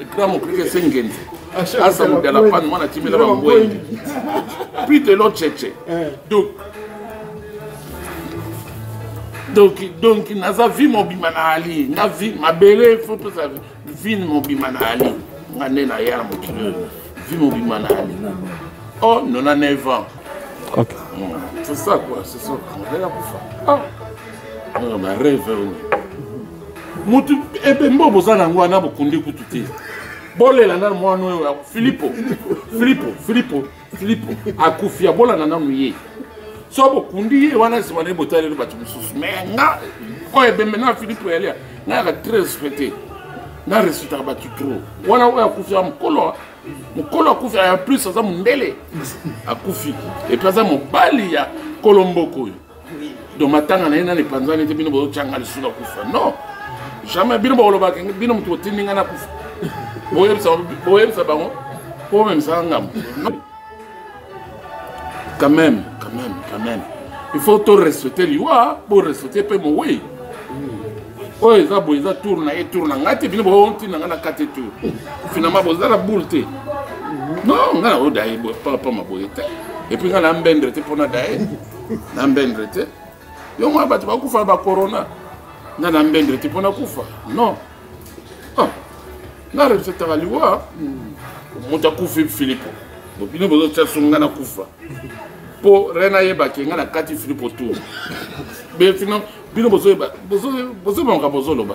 ekra mokrike se ngenzi asa mudala pan mwana timela bangwengi puis de l'autre cheche donc donc donc naza vie mobima na ali nga vie mabele fo toza vie mobima na ali nga nde na ya na mokili oyo vie mobima na ali oh nona 9 ans okay. mm. c'est ça quoi c'est ça ngai nakufa ah. ah, bareve oyo mutu ebembe oyo boza na yango wana bokundi kutu te bolela nanu mwana oyo ya filipo filipo filipo filipo akufi abolana nanu ye so bokundi ye wana nsima nde botaleli bato mosusu me nga oyo ebembe na filipo yalia nga yaka très respecté na respectaka bato trop wana oyo akufi ya mokolo mokolo akufi ya plus aza mondele akufi epuis aza mobali ya kolomboko oyo donc matanga na ye nani epanzani te bino bozotyanga lisusu na kufa non jamais bino bakolobaka bino moto otindi ngai na kufa boyebisa bango mpo omemisaka ngambo quand même quand même quand même il faut to respecte liwa bo respecte mpe mowei oyo eza boye eza tour na ye tour na ngai te bino boontina ngai na kate tour finalement boza na boule te non ngai na oyo daye boye papa maboye te epuis ngai na mbendre te mpo na daye na mbendre te yo mwa bato bakufa na bacorona nga na mbendre te mpo nakufa non ah, nga respectaka liwa moto akufi filipo bino bozotya so nga nakufa mpo re nayebake nga nakati filipo tour bino bozoyeba makambo bozoloba